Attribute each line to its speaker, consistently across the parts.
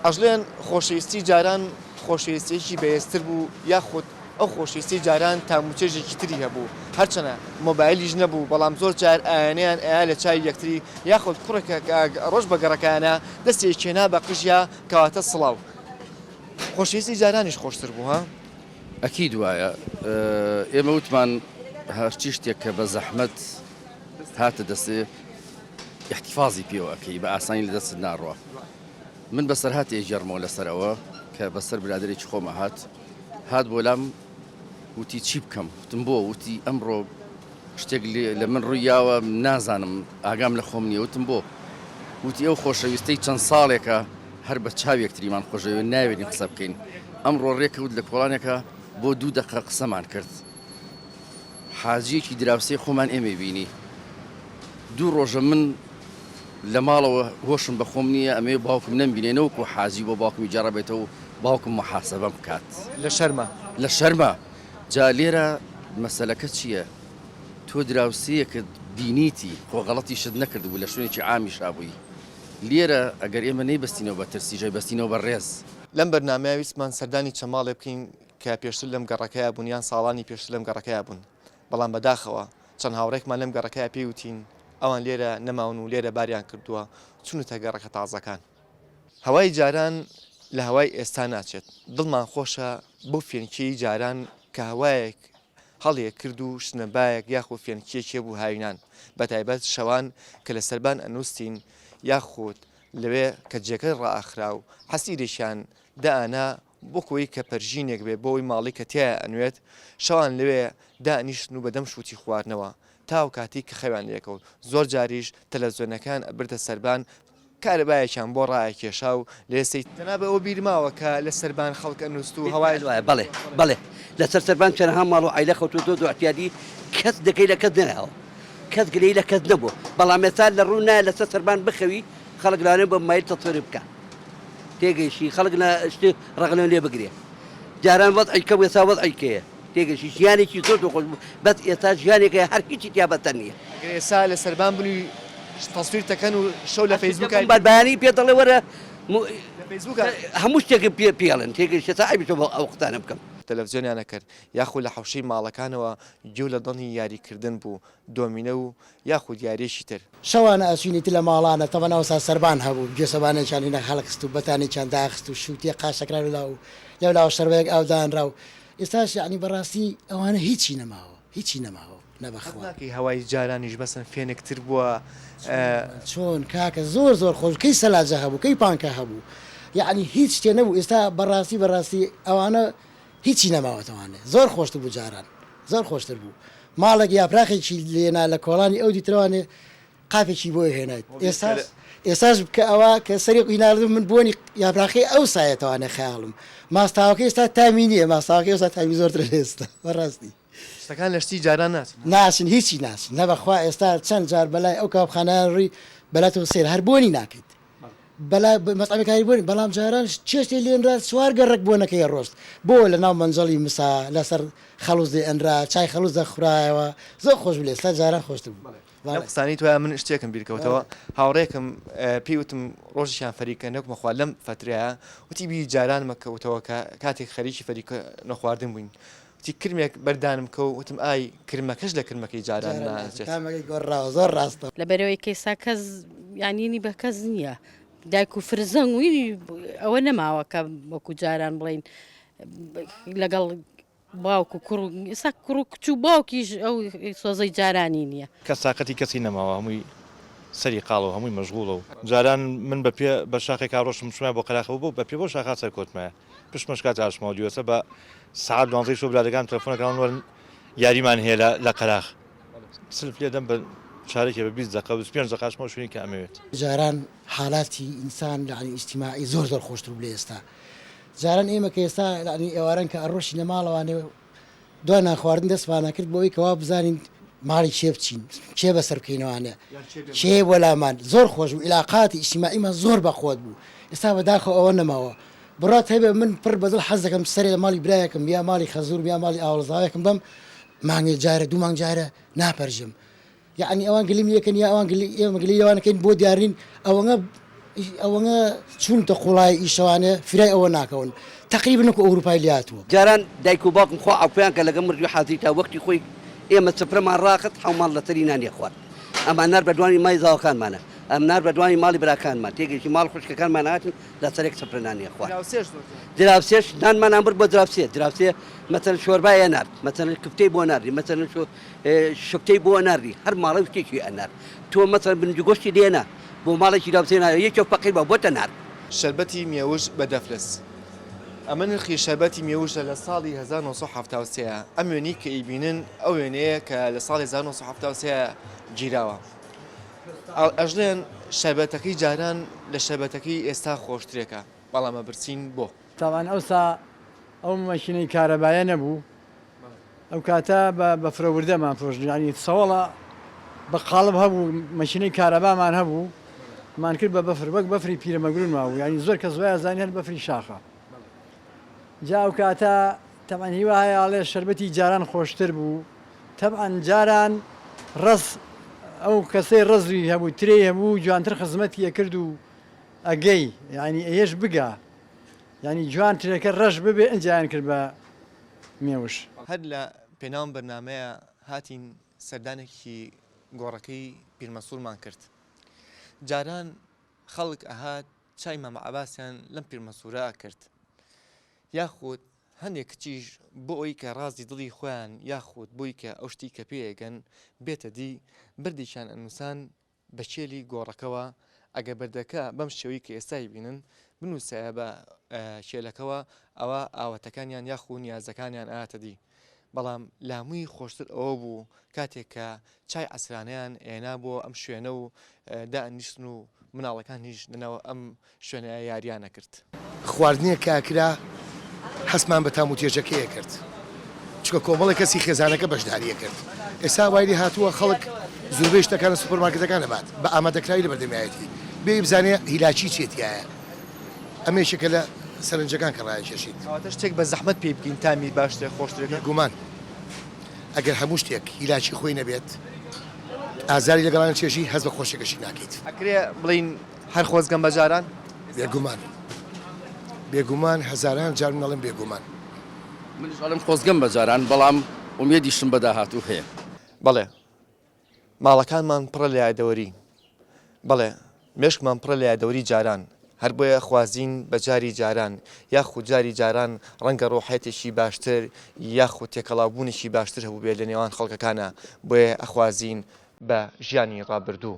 Speaker 1: ئەژلێن خۆشەویستی جاران خۆشەویستیەکی بەهێزتر بوو یاخود ئەو خۆشەویستی جاران تام و چێژێکی تری هەبوو هەرچەنە مۆبایلیش نەبوو بەڵام زۆر جار ئایانەیان ئەیا لە چاوی یەکتری یاخود کوڕێک کە ڕۆژ بە گەڕەکایانە دەستی ئەکێنا بە قژیا کەواتە سڵاو خۆشەویستی جارانیش خۆشتر بوو ها؟ ئەکید وایە
Speaker 2: ئێمە وتمان هەرچی شتێک کە بە زەحمەت هاتە دەستێ ئیحتیفازی پێوە ئەکەی بە ئاسانی لە دەستت ناڕوا. من بەسەرهاتی ئەیگێڕمەوە لەسەر ئەوە کە بەسەر برادەرێکی خۆم ئەهات، هات بۆ لام وتی چی بکەم؟ وتم بۆ؟ وتی ئەمڕۆ شتێک لە من ڕووی یاوە نازانم ئاگام لە خۆم نییە، وتم بۆ؟ وتی ئەو خۆشەویستەی چەند ساڵێکە هەر بە چاوی یەکتریمان خۆشدەوێین ناوێرین قسە بکەین، ئەمڕۆ ڕێکەوت لە کۆڵانێکا بۆ دوو دەقە قسەمان کرد، حاجیەکی دراوسێی خۆمان ئێمەی بینی دوو ڕۆژە من لە ماڵەوە هۆشم بە خۆم نیە ئەمەوێ باوکم نەمبینێ نەوەکو حاجی بۆ باوکمی گێڕابێتەوە و باوکم موحاسەبەم بکات لە شەرما. لە شەرما جا لێرە مەسەلەکە چیە تۆ دراوسێیەکت بینیتی خۆ غەڵەتیشت نەکردبوو لە شوێنێکی عامیشا بووی لێرە ئەگەر ئێمە نەیبەستینەوە بە ترسی جای بەستینەوە بە ڕێز. لەم بەرنامەیە
Speaker 1: ویستمان سەردانی چەماڵێ بکەین کە پێشتر لەم گەڕەکەیا بوون یان ساڵانی پێشتر لەم گەڕەکەیا بوون، بەڵام بەداخەوە چەند هاوڕێکمان لەم گەڕەکەیا پێی وتین ئەوان لێرە نەماون و لێرە باریان کردووە چونەتە گەڕەکە تازەکان. هەوای جاران لە هەوای ئێستا ناچێت، دڵمان خۆشە بەو فێنکیەی جاران کە هەوایەک هەڵیە کرد و شنە بایەک یاخود فێنکیەک هەبوو هاوینان بە تایبەت شەوان کە لە سەربان ئەنوستین یاخود لەوێ کە جێگەی ڕائەخرا و حەسیرێکیان دائەنا بۆکۆی کە پەرژینێک بێ بۆی ماڵی کە تیایا ئەنوێت شەوان لەوێ دانیشتن و بەدەم شوتی خواردنەوە تاو کاتی کە خەویان لێکەوت زۆر جاریش تەلەفزۆنەکەیان ئەبردە سەربان کارەبایەکیان بۆ ڕایە کێشا و لێ سەی جەنابت ئەوە بیر ماوە کە لە سەربان خەڵک ئەنوست و هەوای. بیرت وایە بەڵێ بەڵێ
Speaker 3: لە سەر سەربان چەنەها ماڵ و عایلە خەوتوە زۆر زۆر عتیادی کەس دەکەی لە کەس نەیاوە کەس گلەی لە کەس نەبوە بەڵام ئێستا لە ڕوو نایە لە سەر سەربان بخەوی خەڵک لانە بە مایل تەسوری بکە تێگەیشتی خەڵک لە شتێ ڕەغنە لێ بگرێ جاران وەزعی کەم ئێستا وەزعی کێیە تێگەشتی ژیانێکی زۆر دۆخۆش بوو بەس ئێستا ژیانێکە هەر هیچی تیا بەتەن نییە گەر ئێستا لە سەربان
Speaker 1: بن و تەسویر تەکەن و شەو لە فەیسبووک ئای بەر بەیانی پێ دەڵێ وەرە
Speaker 3: م- لە فەیسبووک ئای- هەموو شتێکم پێ پێڵن تێگەشتە تا ئەویشە بۆ ئەو قسانە بکەم تەلەفزیۆنیان ئەکرد
Speaker 1: یاخو لە حەوشەی ماڵەکانەوە گوێ لە دەنگی یاریکردن بوو دۆمینە و یاخود یاریەکی تر. شەوانە ئەچووین ئیتر لە
Speaker 4: ماڵانە تەمەن ئەوسا سەربان هەبوو گوێسەبانێکیان هینا هەڵخست و بەتانێکیان داخست و شووتیە قاشەکرا لەولا و لەولاوە شەربەیەک ئاو دانرا و ئێستاش یەعنی بەڕاستی ئەوانە هیچی نەماوە هیچی نەماوە نە بە خوا. هەقناکەی هەوای جارانیش
Speaker 1: مەسن فێنک تر بووە. چۆن
Speaker 4: کاکە زۆر زۆر خۆش کەی سەلاجە هەبوو کەی پانکە هەبوو یەعنی هیچ شتێ نەبوو ئێستا بەڕاستی بەڕاستی ئەوانە هیچی نەماوەتەوانێ زۆر خۆشتر بوو جاران زۆر خۆشتر بوو ماڵێک یاپراخێکی لێنا لە کۆڵانی ئەو دیترەوانێ قاپێکی بۆ هێنایت ئێستاش ئێستاش بکە ئەوە کە سەری قیناردم من بۆنی یاپراخی ئەو سایەتەوانێ خەیاڵم ماستاوەکە ئێستا تامی نییە ماستاوەکە ئێستا تامی زۆرتر لە ئێستا بەڕاستی. شتەکان لە شتی
Speaker 1: جاران ناچن ها. ناچن هیچی
Speaker 4: ناچن نە بەخوا ئێستا چەند جار بەلای ئەو کاوبخانایە ڕوی بەلای تۆ سەیرە هەر بۆنی ناکەیت بەلا مەتعەمەکانی بۆنی بەڵام جاران چێشتێ لێنرا چوار گەڕەک بۆنەکەی ئەڕۆشت بۆ لە ناو مەنجەڵی مسا لەسەر خەڵوز دێ ئەنرا چای خەڵوز دەخورایەوە زۆر خۆش بوو لە ئێستا جاران خۆشتر بوو بەڵێ. لەم قسانەی تۆیا من شتێکم
Speaker 1: بیر کەوتەوە هاوڕێکم پێی وتم ڕۆژیشان فەریکە نەک مەخوا لەم فەترەیا وتی بیری جارانمە کەوتەوە کە کاتێک خەریکی فەریکە نەخواردن بووین تی کرمێک بەردانم کە و وتم ئای کرمەکەش لە کرمەکەی جاران ناچێت.
Speaker 4: لە بەرەی کەیسا کەس
Speaker 5: یانینی بە کەس نییە دایک و فرزەنگ وی ئەوە نەماوە کە وەکو جاران بڵین لەگەڵ باوک و کوڕ ئێستا کوڕ و کچ و باوکیش ئەو سۆزەی جارانی نییە. کەس تاقەتی کەسی نەماوە
Speaker 6: هەمووی سەری قاڵە و هەمووی مەشغوڵە و جاران من بە پێ بە شاخێکا ڕۆشتم چومایە بۆ قەراخە و بە پێ بەو شاخا سەرکەوتمایە پشمەش کاتی هاتشمەوە دیوەسە بە سعات دوانزەی شۆ برادەکان تەلەفۆنە کەون وەرن یاریمان هەیە لە لە قەراخ سلف لێ دەم بە چارێکی بە بیست دەقە بس پێنج دەقاشمەوە شوێنی کە ئەمەوێت جاران
Speaker 4: حالاتی ئینسان لەعنی ئیجتیماعی زۆر زۆر خۆشتر بوو لە ئێستا جاران ئێمە کە ئێستا لەعنی ئێواران کە ئەڕۆشینە ماڵەوانێ دوای نانخواردن دەستمان ئەکرد بۆ ئەوەی کە وا بزانین ماڵی کێ بچین، کێ بەسەر بکەینەوانێ، کێ بۆ لامان. زۆر خۆش بوو، ئیلاقاتی ئیجتیماعیمان زۆر بەخۆت بوو. ئێستا بەداخەوە ئەوە نەماوە. بڕوات هەبێ من پڕ بە دڵ حەز دەکەم سەرێ لە ماڵی برایەکم یا ماڵی خەزوورم یا ماڵی ئاوەڵزاوێکم بەم، مانگێ جارێ، دوو مانگ جارێ ناپەرژم. یەعنی ئەوان گلیم لێکەن یا ئەوان گلی ئێمە گلەی ئەوان کەین بۆ دیار نین ئەوەنە ئیش ئەوەنە چونتە قوڵایی ئیش ئەوانە فرای ئەوە ناکەون تەقریبەن وەکو ئەوروپای لاتووە. جاران دایک و باوکم
Speaker 3: خوا عەوفیان کە لەگەڵ مردووی حاجی تا وەختی خۆی ئێمە سفرەمان ڕاخست حەو ماڵ لەسەری نانی ئەخوارد ئەمان نارد بە دوانی مای زاوەکانمانا ئەم نارد بە دوانی ماڵی براکانمان تێگەیشتی ماڵ خوشکەکانمان ئەهاتن لەسەرێک سفرە نانی ئەخوارد دراوسێش نانمان ئەبرد بۆ دراوسێ دراوسێ مەسەلەن شۆربای ئەنارد مەسەلەن کفتەی بۆ ناردی مەسەلەن شۆ شوکتەی بۆ ئەناردی هەر ماڵێ شتێکی ئەنارد تۆ مەسەن بنج و گۆشتی لێنا بۆ ماڵێکی داوسێ نایە یەکێ فەقیر بە بۆتە نارد. شەربەتی مێوژ
Speaker 1: بە دەفلس ئەمە نرخی شەربەتی مێوژە لە ساڵی هەزار و نۆ سەد و حەفتا و سێ ئەم وێنەی کە ئیبینن ئەو وێنەیە کە لە ساڵی هەزار و نۆ سەد و حەفتا و سێ گیراوە ئەژلێن شەربەتەکەی جاران لە شەربەتەکەی ئێستا خۆشترێکە بەڵام ئەبرسین بۆ. تاوان ئەوسا
Speaker 7: ئەو مەشینەی کارەبایە نەبوو ئەوکاتە بە بەفرە وردەمان فرۆشت یانی سەوەڵە بە قاڵب هەبوو مەکینەی کارەبامان هەبوو مان کرد بە بەفر وەک بەفری پیرە مەگرون ماوو یانی زۆر کەس وایە زانی هەر بەفری شاخە جا ئەو کاتە تەمان هیواهەیە ئاڵێ شربەتی جاران خۆشتر بوو تەبعەن جاران ڕز ئەو کەسەی ڕزوی هەبوو ترێ هەبوو جوانتر خزمەتی ئەکرد و ئەگەی یعنی ئەیش بگا یعنی جوان ترێکە ڕەش ببێ ئەنجیان کرد بە مێوژ. هەر لە
Speaker 1: پێناو ئەم بەرنامەیە هاتین سەردانێکی گۆڕەکەی پیرمەسوورمان کرد. جاران خەڵک ئەهات چای مامە عەباسیان لەم پیرمەسوورە ئەکرد یاخود هەندێ کچیش بۆ ئەوەی کە ڕازی دڵی خۆیان یاخود بۆی کە ئەو شتی کە پێ ئەگەن بێتە دی بەردێکیان ئەنووسان بە کێلی گۆڕەکەوە ئەگەر بەردەکە بەم شێوەی کە ئێستای بینن بنووسایە بە کێلەکەوە ئەوا ئاواتەکانیان یاخو نیازەکانیان ئایەتە دی بەڵام لاموی خۆشتر ئەوە بوو کاتێک کە چای عسرانیان ئێنا بۆ ئەم شوێنە و دائنیشتن و مناڵەکانیش لەناو ئەم شوێنێ ئە یاریا نە کرد. خواردنێک کە
Speaker 8: کرا هەستمان بە تام و تێچەکەیە کرد چونکە کۆمەڵێک کەسی خێزانەکە بەشداریە کرد ئێستا وای لێ هاتووە خەڵک زوربەی شتەکانە سوپەرمارکێتەکان ئەبات بە ئامادەکراوی لە بەردەمیایەتی بێ بزانێ هیلاکی چیە تیایە ئەمە یەکێکە لە سەرنجەکان کە ڕایکێشیت. کەواتە شتێک بە زەحمەت
Speaker 1: پێی بگەین تامی باشترە خۆشترە. بێگومان
Speaker 8: ئەگەر هەموو شتێک هیلاکی خۆی نەبێت ئازاری لەگەڵان چێژی هەست بە خۆشیەکەشی ناکەیت. ئەکرێ بڵێین
Speaker 1: هەر خۆزگەم بە جاران. بێگومان.
Speaker 8: بێگومان هەزاران جار من ئەڵێم بێگومان. منیش
Speaker 2: ئەڵێم خۆزگەم بە جاران بەڵام ئومێدیشم بە داهاتوو هەیە. بەڵێ
Speaker 1: ماڵەکانمان پڕە لە یادەوەری. بەڵێ مێشکمان پڕە لە یادەوەری جاران. هەر بۆیە خوازین بە جاری جاران. یاخود جاری جاران ڕەنگە ڕۆحیەتێکی باشتر یاخود تێکەڵاوبوونێکی باشتر هەبووبێت لە نێوان خەڵکەکانا بۆیە ئەخوازین بە ژیانی ڕابردوو.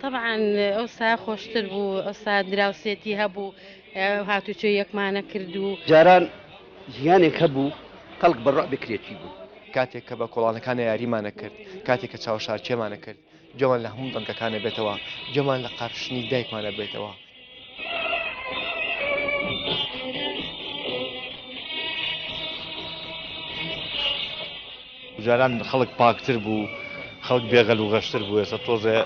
Speaker 5: تەبعەن ئەوسا خۆشتر بوو ئەوسا دراوسێتی هەبوو هاتوچۆی یەکمانە کرد و. جاران
Speaker 3: ژیانێک هەبوو خەڵک بە ڕوعبی کرێچی بوو. کاتێک کە بە
Speaker 1: کۆڵانەکانە یاریمانە کرد کاتێک کە چاوەشارکێمانە کرد گوێمان لە هەموو دەنگەکانە بێتەوە گوێمان لە قارشنی دایکمانە بێتەوە.
Speaker 6: جاران خەڵک پاکتر بوو خەڵک بێغەل و غەشتر بوو ێستا تۆزێ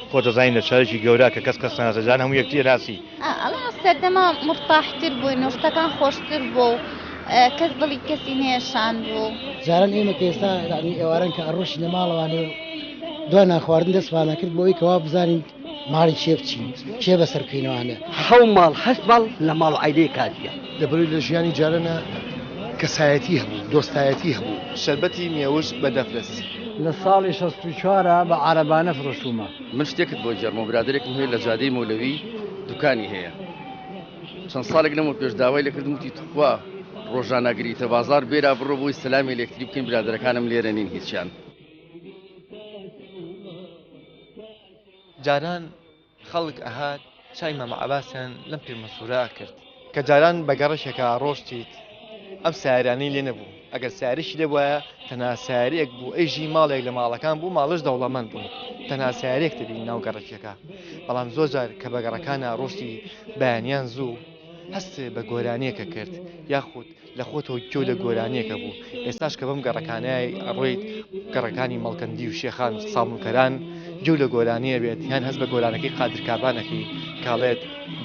Speaker 6: خۆ دەزانین لە شارێکی گەورە کە کەس کەسناسە جان هەموو یەکتی راسی ئەڵا سەردەما
Speaker 9: مرتاحتر بووی نوشتەکان خۆشتر بوو کەس دڵی کەسی نێشان بوو جاران ئێمە
Speaker 4: کێستا ئێواران کە ئەڕۆشی لە ماڵەوانێ دوای نانخواردن دەستمانە کرد بۆی کەوا بزانین ماڵی کێ بچین؟ کێ بەسەر بکەینەوە ئانە؟ حەو ماڵ هەشت
Speaker 3: ماڵ لە ماڵ و عایلەی کاجییە. دەبروی لە ژیانی
Speaker 8: جارەنا کەسایەتی هەبوو، دۆستایەتی هەبوو. شەربەتی مێوژ
Speaker 1: بە دەفرەس. لە ساڵی
Speaker 7: شەست و چوار ە بە عارەبانە فرۆشتوومە. من شتێکت بۆ
Speaker 2: گێڕمەوە برادەرێکم هەیە لە جادەی مەولەوی دوکانی هەیە چەند ساڵێک لەمەو پێش داوای لێ کردم وتی توخوا ڕۆژان ناگریتە بازاڕ بێرا بڕۆ بۆی سەلامێ لێکتری بکەین برادەرەکانم لێرە نین هیچیان
Speaker 1: جاران خەڵک ئەهات چای مامە عەباسیان لەم پیرمەسوورە ئەکرد. کە جاران بە گەڕەکێکا ئەڕۆشتیت ئەم سایەرانەی لێ نەبوو، ئەگەر سایەرێکی لێ بوایە تەنها سایەرێک بوو، ئەی ژی ماڵێک لە ماڵەکان بوو، ماڵەش دەوڵەمەند بوون، تەنها سایەرێک دەبینی ناو گەڕەکێکا، بەڵام زۆر جار کە بە گەڕەکان ئەڕۆشتی بەیانیان زوو هەست بە گۆرانیەک ئەکرد یاخود. لە خۆتەوە گوێ لە گۆرانیەکە بوو ئێستاش کە بەم گەڕەکانەی ئەڕۆیت گەڕەکانی مەڵکەندی و شێخان و سامونکەران گوێ لە گۆرانیە بێت یان هەست بە گۆرانەکەی قادر کابانەکەی کاڵێت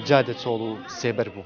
Speaker 1: جادە چۆڵ و سێبەر بوو.